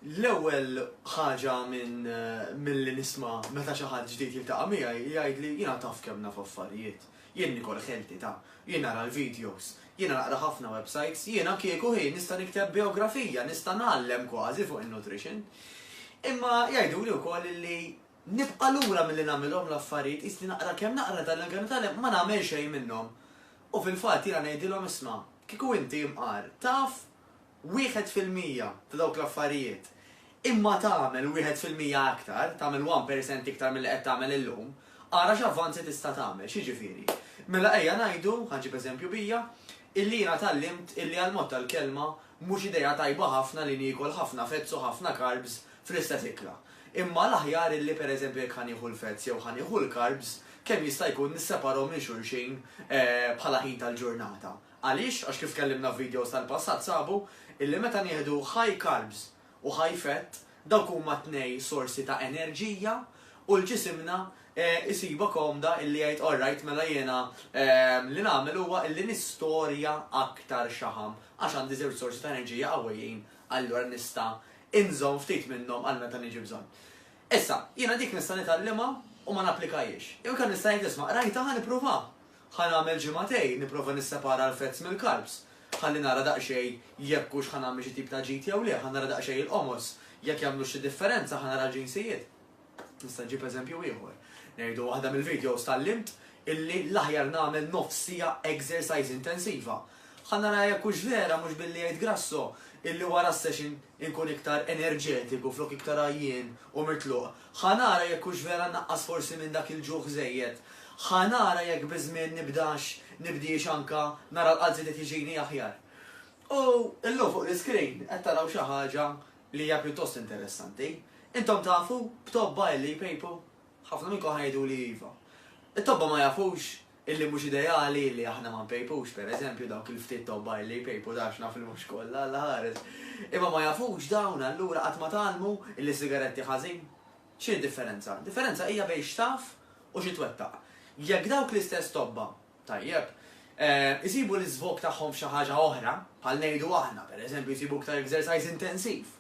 L-ewwel ħaġa minn eh, milli nisma' meta xi ħadd ġdid jiltaqa' miegħi jgħid li jiena taf kemm naf affarijiet. Jien nikol ħelti ta', jien nara l-videos, jien naqra ħafna websites, jiena kieku ħin nista' nikteb biografija, nista' nagħallem kważi fuq in-nutrition. Imma jgħidu li wkoll li Nibqa' lura milli nagħmilhom l-affarijiet, qis li naqra kemm naqra dan il-Kelma tal-Hemm ma nagħmel xejn minnhom. U fil-fatt jiena ngħidilhom isma', kieku inti, imqar, taf wieħed fil-mija ta' dawk l-affarijiet, imma tagħmel wieħed fil-mija aktar, tagħmel one percent iktar milli qed tagħmel illum, ara x'avvanzi tista' tagħmel. X'jiġifieri? Mela ejja ngħidu, ħa ġġib eżempju bija, illi jiena tgħallimt illi għall-mod tal-kelma mhux idea tajba ħafna li niekol ħafna fats u ħafna carbs fl-istess ikla. Imma l-aħjar illi pereżempju jekk ħa nieħu l-fats jew ħa nieħu l-carbs, kemm jista' jkun nisseparahom minn xulxin bħala ħin tal-ġurnata. Għaliex? Għax kif tkellimna f'videos tal-passat sabu illi meta nieħdu high carbs u high fat, dawk huma t-tnej sorsi ta' enerġija u l-ġisimna jsibha komda illi jgħid all right mela jiena li nagħmel huwa illi nistorja aktar xaħam għax għandi żewġ sorsi ta' enerġija qawwijin allura nista' inżomm ftit minnhom għal meta niġi bżonn. Issa, jiena dik nista' nitgħallimha u ma napplikahiex. Jew inkella nista' ngħid isma' qrajtha ħa nippruvaha. Ħa nagħmel ġimgħatejn nipprova nissepara l-fats mill-carbs. Ħalli nara daqsxejn jekk hux ħa nagħmel xi tip ta' ġid jew le, ħa nara daqsxejn il-qomos, jekk jagħmlux xi differenza, ħa nara l-ġinsijiet. Nista' ġib eżempju ieħor. Ngħidu waħda mill-videos tallimt illi l-aħjar nagħmel nofs sija exercise intensiva. Ħa nara jekk hux vera mhux billi jgħid Grasso illi wara s-session inkun iktar enerġetiku flok iktar għajjien u mitluq. Ħa nara jekk hux vera naqqas forsi minn dak il-ġuħ żejjed. Ħa nara jekk biż-żmien nibdax nibdiex anka nara l-qalb żied qed jiġini aħjar. U llum fuq l-iscreen qed taraw xi ħaġa li hija pjuttost interessanti. Intom tafu b'tobba illi jpejpu? Ħafna minnkom ħa jgħiduli iva. It-tobba ma jafux illi mhux ideali illi aħna ma npejpux, per eżempju, dawk il-ftit tobba illi jpejpu dax naf li mhux kollha, Alla ħares. Imma ma jafux dawn allura qatt ma tgħallmu illi sigaretti ħażin? X'inhi d-differenza? Differenza hija bejn x'taf u xi twettaq. Jekk dawk l-istess tobba Tajjeb. Isibu l-iżvog tagħhom f'xi ħaġa oħra, bħal ngħidu aħna, per eżempju, jsibu iktar exercise intensiv.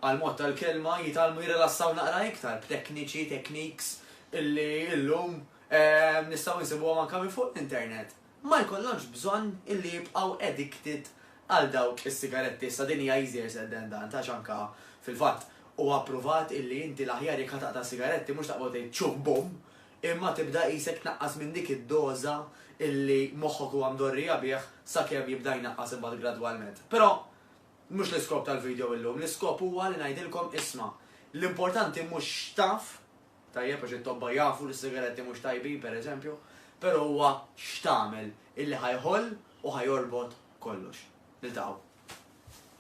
Għall-mod tal-kelma, jitgħallmu jirrilassaw naqra iktar b'tekniċi, techniques, illi illum nistgħu nsibuhom anke minn fuq l-internet. Ma jkollhomx bżonn illi jibqgħu addicted għal dawk is-sigaretti. Issa din hija easier said than done, għax anke, fil-fatt, huwa ppruvat illi inti l-aħjar jekk ħa taqta' s-sigaretti mhux taqbad tgħid txuh bum, imma tibda qisek tnaqqas minn dik id-doża illi moħħok huwa mdorrija bih sakemm jibda jnaqqas imbagħad gradwalment. Però mhux l-iskop tal-video illum, l-iskop huwa li ngħidilkom isma', l-importanti mhux x'taf, tajjeb għax it-tobba jafu li s-sigaretti mhux tajbin pereżempju, però huwa x'tagħmel illi ħa jħoll u ħa jorbot kollox. Niltaqgħu.